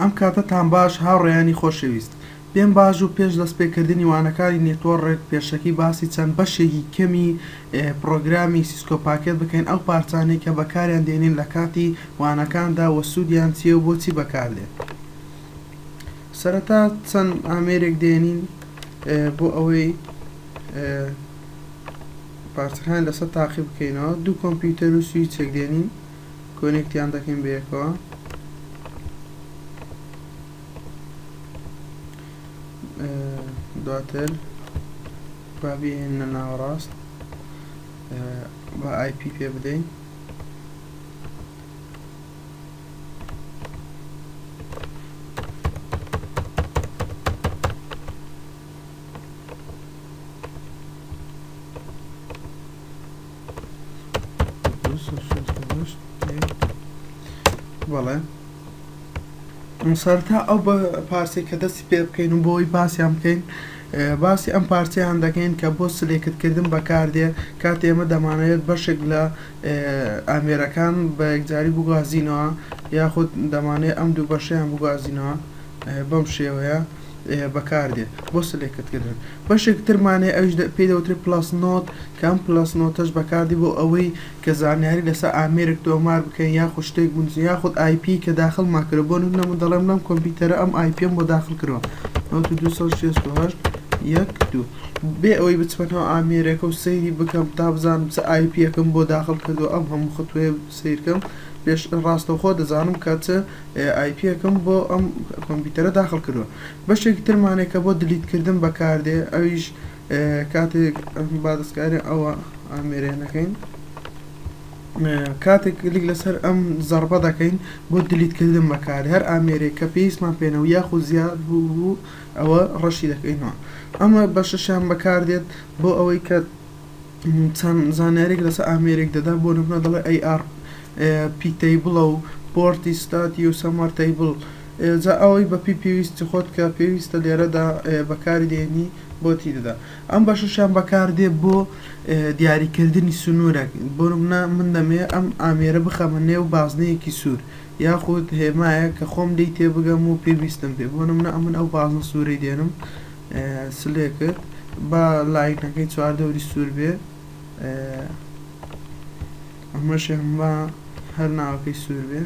ئەم کاتەتان باش هاوڕێیانی خۆشەویست. پێم باش بوو پێش دەست پێکردنی وانەکانی نێتوۆڕک پێشەکی باسی چەند بەشێکی کەمی پڕۆگرامی سیسکۆ پاکێت بکەین ئەو پارچانەی کە بەکاریان دێنین لە کاتی وانەکاندا وە سوودیان چیە و بۆچی بەکار دێن سەرەتا چەند ئامێرێک دێنین بۆ ئەوەی پارچەکان لەسەر تاقی بکەینەوە دوو کۆمپیوتەر و سویچێک دێنین کۆنێکتیان دەکەین بەیەکەوە دواتر با بێنە ناوەڕاست بە ئایپ پێ بدەین سەرەتا ئەو پارچەی کە دەستی پێ بکەین و بۆی باسیان بکەین باسی ئەم پارچەیان دەکەین کە بۆ سلێکت کردن بەکاردێ کاتێ ئێمە دەمانەوێت بەشێک لە ئامێرەکان بە یەکجاری بگوازینەوە یاخود دەمانێ ئەم دوو بەشەیان بگوازینەوە بەم شێوەیە. بەکاردێت بۆ سلێکت کردن بەشێک ترمان هەیە ئەویش پێی دەوترێت پڵەس نۆت کە ئەم پڵەس نۆتەش بەکاردی بۆ ئەوەی کە زانیاری لەسەر ئامێرێک تۆمار بکەین یاخود شتێک بنووسین یاخود ئای پی کە داخڵمان کردووە بۆ نموونە من دەڵێم لەم کۆمپیوتەرە ئەم ئای پیەم بۆ داخڵ کردووە نۆت و دوو سەد و شەست و هەشت یەک دوو بێ ئەوەی بچمەوە ئامێرەکە و سەیری بکەم تا بزانم چ ئای پییەکەم بۆ داخڵ کردووە ئەم هەموو ختووەیە سیرکەم پێش ڕاستەوخۆ دەزانم کە چ ئای پیەکەم بۆ ئەم کۆمپیوتەرە داخڵ کردووە بەشێکی ترمانێک کە بۆ دلیت کردن بەکاردێ ئەویش کاتێک با دەستکاری ئەوە ئامێرێ نەکەین کاتێک لیک لەسەر ئەم زەربە دەکەین بۆ دلیتکردن بەکار هەر ئامێرێک کە پێویستمان پێێنە و یاخۆ زیاد بوو بوو ئەوە ڕەشی دەکەینەوە ئەمە بەشەشیان بەکاردێت بۆ ئەوەی کە چەند زانیاریەک لەسەر ئامێرێک دەدا بۆ نمونە دەڵێ ئەی ئاڕ پی تەیبڵە و پۆرتی ستاتی و سەمەر تەیبڵ جا ئەوەی بە پی پێویستی خۆت کە پێویستە لێرەدا بەکاری دێنی بۆ تی دەدا ئەم بەشەشیان بەکاردێ بۆ دیاریکردنی سنوورێک بۆ نمونە من دەمێ ئەم ئامێرە بخەمە نێو بازنەیەکی سوور یاخود هێمایە کە خۆم لی تێبگەم و پێویستم پێ بۆ نمونە ئەمن ئەو بازنە سوورەی دێنم سلێ کرد با لاینەکەی چوار دەوری سور بێ ئەمەشیان با هەر ناوەکەی سور بێ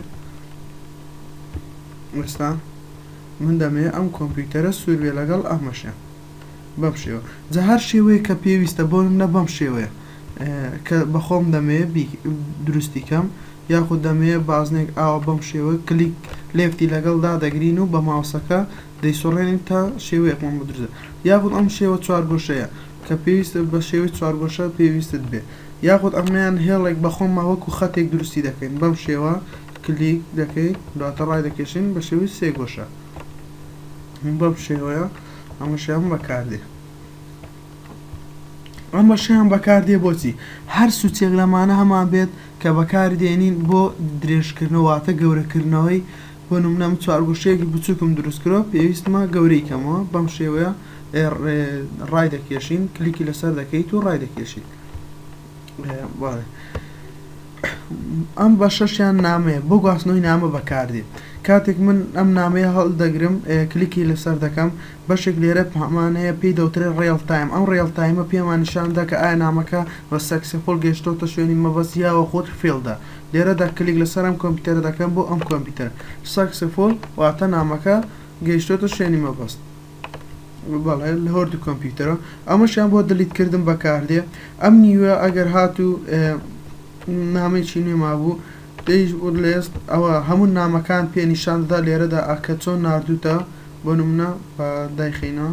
وەستا من دەمێ ئەم کۆمپیوتەرە سور بێ لەگەڵ ئەمەشیان بەم شێوە جا هەر شێوەیە کە پێویستە بۆ منە بەم شێوەیە کە بەخۆم دەمێ دروستی کەم یاخود دەمێ بازنێک ئاوە بەم شێوە کلیک لێفتی لەگەڵ دادەگرین و بە ماوسەکە دەیسوڕێنین تا شێوەی ئەقڵمان بۆ دروست بێت یاخود ئەم شێوە چوارگۆشەیە کە پێویستە بە شێوەی چوارگۆشە پێویستت بێ یاخود ئەمەیان هێڵێک بە خۆمان وەکو خەتێک دروستی دەکەین بەم شێوە کلیک دەکەین دواتە ڕای دەکێشین بە شێوەی سێ گۆشە بەم شێوەیە ئەمەشیان بەکاردێ ئەمەشیان بەکاردێ بۆچی هەر سوچێک لەمانە هەمان بێت کە بەکاردێنین بۆ درێژکردنەوە واتە گەورەکردنەوەی بۆ نمونە من چوارگۆشەیەکی بچوکم دروست کردوە پێویستمە گەورەی کەمەوە بەم شێوەیە ڕایدەکێشین کلیکی لەسەر دەکەیت و ڕایدەکێشیت ئەم بە شەشیان نامەیە بۆ گواستنەوەی نامە بەکاردێت کاتێک من ئەم نامەیە هەڵدەگرم کلیکی لەسەر دەکەم بەشێک لێرە پامانەیە پێی دەوترێ ڕێڵ تایم ئەم ڕێڵ تایمە پێماننیشاندا کە ئایا نامەکە بە سەکسیپۆل گەشتۆتە شوێنی مەبەست یاوە خۆت فێڵدا لێرەدا کلیک لەسەر ئەم کۆمپیوتەرە دەکەم بۆ ئەم کۆمپیوتەرە Successful واتە نامەکە گەیشتۆتە شوێنی مەبەست بەڵێ لە هۆردی کۆمپیوتەرە ئەمەشیان بۆ دلیت کردن بەکاردێ ئەم نیوە ئەگەر هاتوو نامەی چی نوێ مابوو دەیش لێست ئەوە هەموو نامەکان پێ نیشاندا لێرەدا ئاکە چۆن نردوتە بۆ نمونە دایخینەوە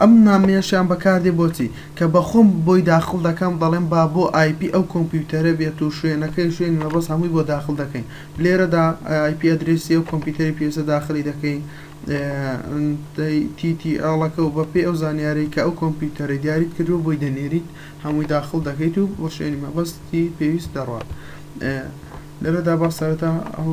ئەم نامەیەشیان بەکاردێ بۆچی؟ کە بە خۆم بۆی داخڵ دەکەم دەڵێم با بۆ ئای پی ئەو کۆمپیوتەرە بێت و شوێنەکەی و شوێنی مەبەست هەمووی بۆ داخڵ دەکەین لێرەدا ئای پی ئەدرێسی ئەو کۆمپیوتەرەی پێویستە داخڵی دەکەین تی تی ئێڵەکە و بەپێی ئەو زانیارەی کە ئەو کۆمپیوتەرەی دیاریت کردووە بۆی دەنێریت هەمووی داخڵ دەکەیت و بۆ شوێنی مەبەستی پێویست دەڕوات لێرەدا با سەرەتا ئەو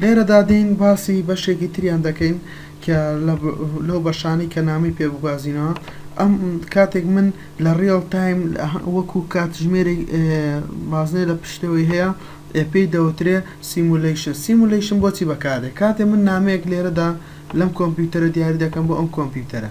لێرەدا دێین باسی بەشێکی تریان دەکەین کە لەو بەشانەی کە نامەی پێ بگوازینەوە ئەم کاتێک من لە ڕیڵ تایم وەکو کاتژمێری بازنەی لە پشتەوەی هەیە پێی دەوترێ سیمولەیشن سیمولەیشن بۆچی بەکارێ کاتێ من نامەیەک لێرەدا لەم کۆمپیوتەرە دیاری دەکەم بۆ ئەم کۆمپیوتەرە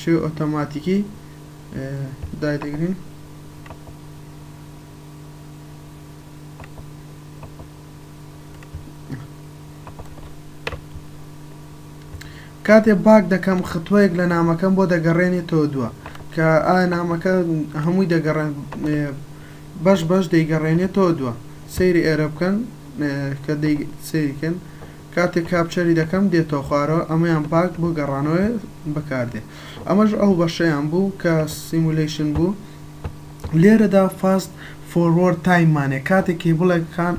شێوەی ئۆتۆماتیکی دایدەگرین کاتێ باک دەکەم خطوەیەک لە نامەکەم بۆ دەگەڕێنێت تۆ دووە کە ئایا نامەکە هەمووی دەگەڕێن بەش بەش دەیگەڕێنێت تۆ دووە سەیری ئێرە بکەن کە سەیریکەن کاتێک کاپچەری دەکەم دێتەوە خوارەوە ئەمەیان باگ بۆ گەڕانەوەی بەکاردێ ئەمەش ئەو بەشەیان بوو کە سیمولەیشن بوو لێرەدا فاست فۆروەرد تایم مانێ کاتێک کیبڵێک کان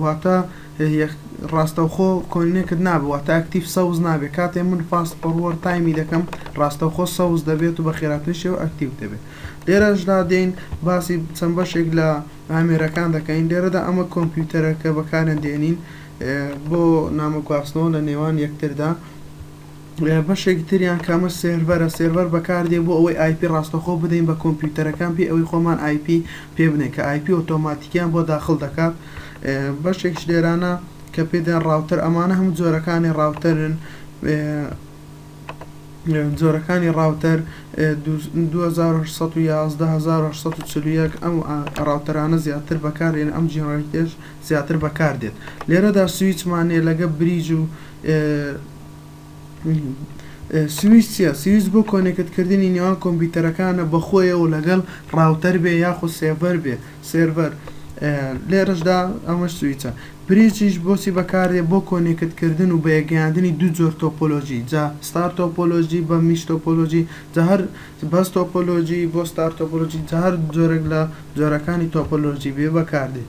واتە ڕاستەوخۆ کۆینێکت نابێ واتە ئەکتیڤ سەوز نابێ کاتێ من فاست فۆروەرد تایمی دەکەم ڕاستەوخۆ سەوز دەبێت و بە خێراتری شێوە ئەکتیڤ دەبێت لێرەشدا دێین باسی چەند بەشێک لە ئامێرەکان دەکەین، لێرەدا ئەمە کۆمپیوتەرە کە بەکاریان دێنین بۆ نامە گواستنەوە لە نێوان یەکتردا، بەشێکی تریان کە ئەمە سێرڤەرە، سێرڤەر بەکاردێ بۆ ئەوەی ئای پی ڕاستەخۆ بدەین بە کۆمپیوتەرەکان بێ ئەوەی خۆمان ئای پی پێ بدەین کە ئای پی ئۆتۆماتیکیان بۆ داخڵ دەکات، بەشێکیش لێرانە کە پێ دەڵێن ڕاوتەر، ئەمانە هەموو جۆرەکانی ڕاوتەرن. جۆرەکانی ڕاوتەر، دوو هەزار و هەشت سەد و یازدە هەزار و هەشت سەد و چل و یەک، ئەم ڕاوتەرانە زیاتر بەکاردێن، ئەم جینەرەیتەیش زیاتر بەکاردێت. لێرەدا سویچمان هەیە لەگەڵ بریج و سویچ چییە؟ سویچ بۆ کۆنێکت کردنی نێوان کۆمپیوتەرەکانە بەخۆیەوە لەگەڵ ڕاوتەر بێ یاخود سێڤەر بێ، سێرڤەر، لێرەشدا ئەمەش سویچە. بریجیش بۆچی بەکاردێت بۆ کۆنێکت کردن و بەیەکگەیاندنی دوو جۆر تۆپۆلۆژی جا ستار تۆپۆلۆژی بە میش تۆپۆلۆژی جا هەر بەس تۆپۆلۆژی بۆ ستار تۆپۆلۆژی جا هەر جۆرێک لە جۆرەکانی تۆپۆلۆژی بێ بەکاردێت.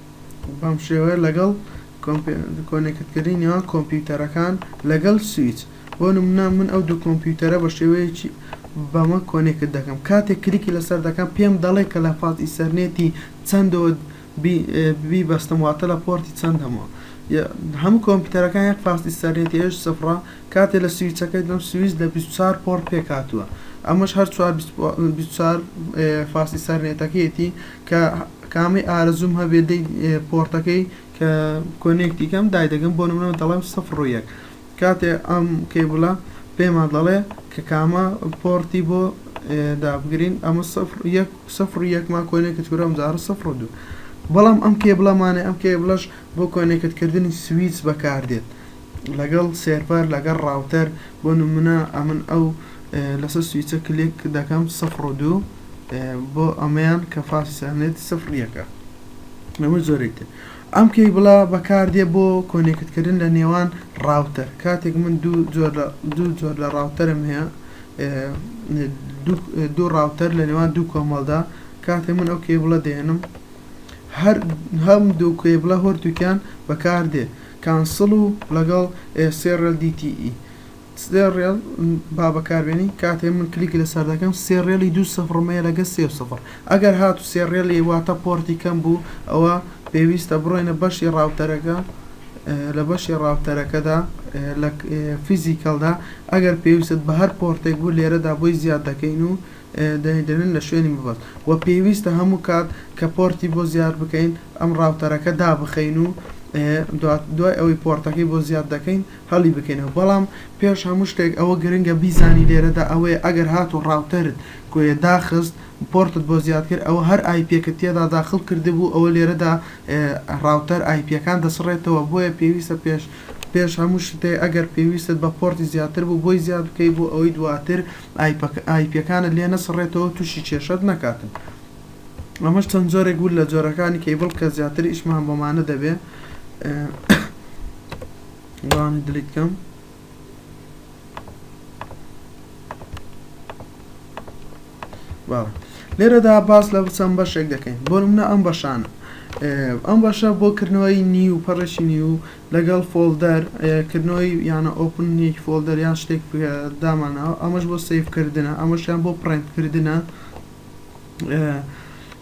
بەم شێوەیە لەگەڵ کۆنێکتکردنی نێوان کۆمپیوتەرەکان لەگەڵ سویچ بۆ نمونە من ئەو دوو کۆمپیوتەرە بە شێوەیەکی بەمە کۆنێکت دەکەم کاتێک کلیکی لەسەر دەکەم پێم دەڵێ کە لە پاز ئیسەرنێتی چەندەوە بی بەستم واتە لە پۆرتی چەندەمەوە هەموو کۆمپیوتەرەکان یەک فاز ئیسەرنێتی ئێش سفڕە کاتێ لە سویچەکەی دەم سویچ لە 24 پۆڕ پێکاتوە ئەمەش هەر فاز ئیسەرنێتەکەیەتی کە کامەی ئارەزووم هەبێ دەی پۆڕتەکەی کە کۆنێکتی کەم دایدەگەم بۆ نمونەوە دەڵێم سفر ڕوو یەک کاتێ ئەم کەیبلە پێما دەڵێ کە کامە پۆڕتی بۆ دابگرین ئەمە سفر یەک سفر یەکما کۆنێکت کورم جارە سفر دوو بەڵام ئەم کێبلەمانێ ئەم کێبلەش بۆ کۆنێکت کردنی سویچ بەکاردێت لەگەڵ سێرڤەر لەگەڵ ڕاوتەر بۆ نمونە ئەمن ئەو لەسەر سویچە کلێک دەکەم سفر و دوو بۆ ئەمەیان کە فاسی سەرنێت سفر یەکە نەمە زۆری تر ئەم کەی بڵا بەکاردێ بۆ کۆنێکتکردن لە نێوان ڕاوتەر کاتێک من دوو جۆر لە دوو جۆر لە ڕاوتەرم هەیە دوو ڕاوتەر لە نێوان دوو کۆمەڵدا کاتێ من ئەو کەی بڵە دێنم هەر هەم دوو کەی بڵە هۆرتوکیان بەکاردێ کانسڵ و لەگەڵ سێررێل دی تی ئی سێررێل با بەکاربێنی کاتێ من کلیک لەسەر دەکەم سێررێلی دوو سفڕ مەیە لەگە سێ و سفڕ ئەگەر هاتوو سێررێلی واتە پۆرتی کەم بوو ئەوە پێویستە بڕۆینە بەشی ڕاوتەرەکە لە بەشی ڕاوتەرەکەدا لە فیزیکەڵدا ئەگەر پێویستت بە هەر پۆرتێک بوو لێرەدا بۆی زیاد دەکەین و دەیدەن لە شوێنی مەبەست وە پێویستە هەموو کات کە پۆرتی بۆ زیاد بکەین ئەم ڕاوتەرەکە دابخەین و دوای ئەوەی پۆرتەکەی بۆ زیاد دەکەین هەڵی بکەینەوە بەڵام پێش هەموو شتێک ئەوە گرنگە بیزانی لێرەدا ئەوەیە ئەگەر هاتوو ڕاوتەرت کۆیە داخست پۆرتت بۆ زیاد کرد ئەوە هەر ئایپیەکت تێدا داخڵ کردبوو ئەوە لێرەدا ڕاوتەر ئایپیەکان دەسڕێتەوە بۆیە پێویستە پێش پێش هەموو شتێ ئەگەر پێویستت بە پۆرتی زیاتر بوو بۆی زیاد بکەی بۆ ئەوەی دواتر ئایپیەکانت لێ نەسڕێتەوەو توشی کێشەت نەکاتن ئەمەش چەند جۆرێک بوو لە جۆرەکانی کەیبڵ کە زیاتر ئیشمان بۆمانە دەبێ گوانی دلیت کەم لێرەدا باس لە بچەم بەشێک دەکەین بۆ منە ئەم بەشانە ئەم بەشە بۆ کردنەوەی نیو پەڕشی نیو لەگەڵ فۆڵدەر کردنەوەی یانە ئۆپن یەک فۆڵدەر یان شتێک دامانەوە ئەمەش بۆ سەیڤ کردنە ئەمەشیان بۆ پڕێنت کردنە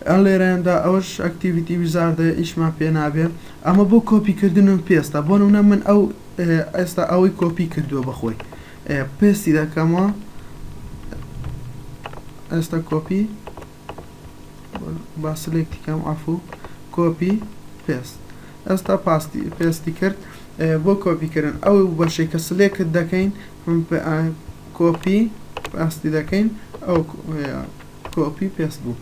ئەن لێرەیاندا ئەوەش ئەکتیڤیتی وزاردە ئیشمان پێ نابێ ئەمە بۆ کۆپی کردن و پێستە بۆ نمونە من ئەو ئێستا ئەوەی کۆپی کردووە بەخۆی پێستی دەکەمەوە ئێستا کۆپی با سلێکتی کەم عەفوو کۆپی پێست ئێستا پاستی پێستی کرد بۆ کۆپی کردن ئەو بەشەی کە سلێکت دەکەین کۆپی پاستی دەکەین ئەو کۆپی پێست بوو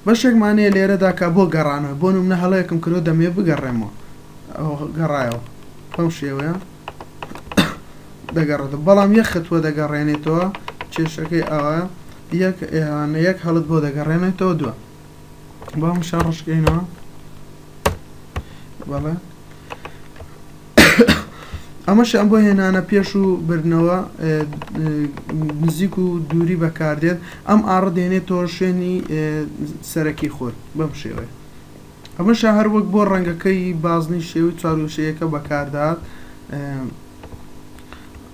بەشێکمانەیە لێرەدا کە بۆ گەڕانە بۆ منە هەڵەیەکم کرۆ دەمێ بگەڕێمەوە گەڕایەوە بەم شێوەیە دەگەڕێتە بەڵام یەخت وە دەگەڕێنێتەوە کێشەکەی ئەوە یەک یان یەک هەڵت بۆ دەگەڕێنێتەوە دوا با ئەم شە ڕشکەینەوە بەڵێ ئەمەش ئەم بۆ هێنانە پێش و بردنەوە نزیک و دووری بەکاردێت ئەم ئاڕ دێنێت تۆ شوێنی سەرەکی خۆت بەم شێوەیە ئەمەشە هەر وەک بۆ ڕەنگەکەی بازنی شێوی چاروشەیەەکە بەکاردات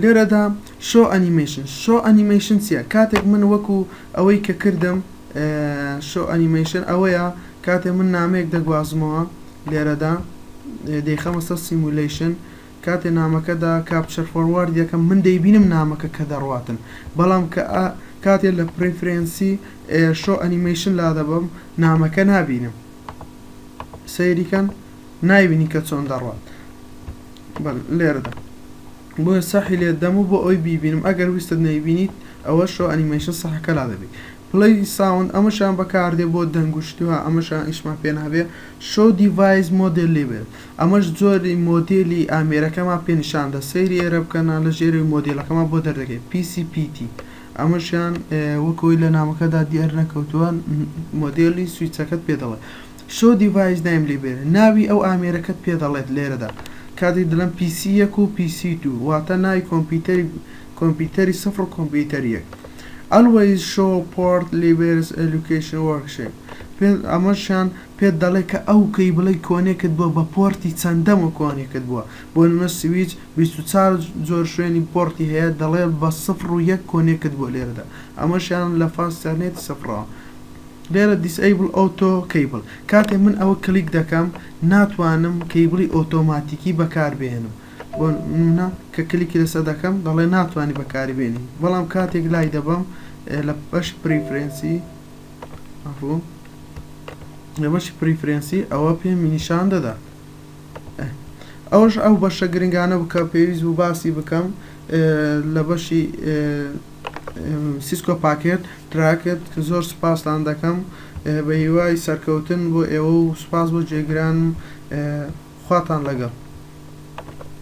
لێرەدا شۆ ئەنیمەیشن شۆ ئەنیمەیشن چییە کاتێک من وەکو ئەوەی کە کردم شۆ ئەنیمەیشن ئەوەیە کاتێ من نامەیەک دەگوازمەوە لێرەدا دەیخەمە سەر سیمولیشن کاتێ نامەکەدا کاپچەر فۆروارد یەکەم من دەیبینم نامەکە کە دەڕاتن بەڵام کە کاتێ لە پرفرەنسی شۆ ئەنیمەیشن لا دەبم نامەکە نابینم سەیریکەن نایبینی کە چۆن دەڕوات بەل لێرەدا بۆیە سەحی لێت دەم و بۆ ئەوی بیبینم ئەگەر ویستت نەیبینیت ئەوە شۆ ئەنیمەیشن سەحەکە لا دەبی پلەی ساوند ئەمەشان بەکاردێ بۆ دەنگ و شتوها ئەمەشان ئیشمان پێ نابێ شۆ دیڤایس مۆدێل لێبێت ئەمەش جۆری مۆدێلی ئامێرەکەمان پێ نیشان دە سەیری ئێرە بکەنە لە ژێرەوەی مۆدێلەکەمان بۆ دەردەکەی پیسی پیتی ئەمەشیان وەکەوەی لە نامەکەدا دیار نەکەوتووە مۆدێلی سویچەکەت پێ دەڵێ Show device دایم لێ بێنە. ناوی ئەو ئامێرەکەت پێ دەڵێت لێرەدا. کاتێک دەڵێم PC یەک و PC دوو واتە ناوی کۆمپیوتەری کۆمپیوتەری سفر و کۆمپیوتەری یەک. Always show port levers location worksheet پێت ئەمەشیان پێت دەڵێت کە ئەو کەیبڵەی کۆنێکت بووە بە پۆرتی چەندەم و کۆنێکت بووە. بۆ نمونە سویچ بیست و چوار جۆر شوێنی پۆرتی هەیە دەڵێت بە سفر و یەک کۆنێکت بووە لێرەدا ئەمەشیان لە فاست تەرنێتی سفرەوە. لێرە Disable Auto Cable کاتێ من ئەوە کلیک دەکەم ناتوانم کەیبڵی ئۆتۆماتیکی بەکاربێنم بۆ نمونە کە کلیکی لەسەر دەکەم دەڵێ ناتوانی بەکاری بێنی بەڵام کاتێک لای دەبەم لە بەشی Preference عەفوو لە بەشی Preference ئەوە پێمی نیشان دەدا. ئەوەش ئەو بەشە گرنگانە بوو کە پێویست بوو باسی بکەم لە بەشی سیسکۆ پاکێت تراکت زۆر سوپاستان دەکەم بە هیوای سەرکەوتن بۆ ئێوە و سوپاس بۆ جێگرانم خواتان لەگەڵ.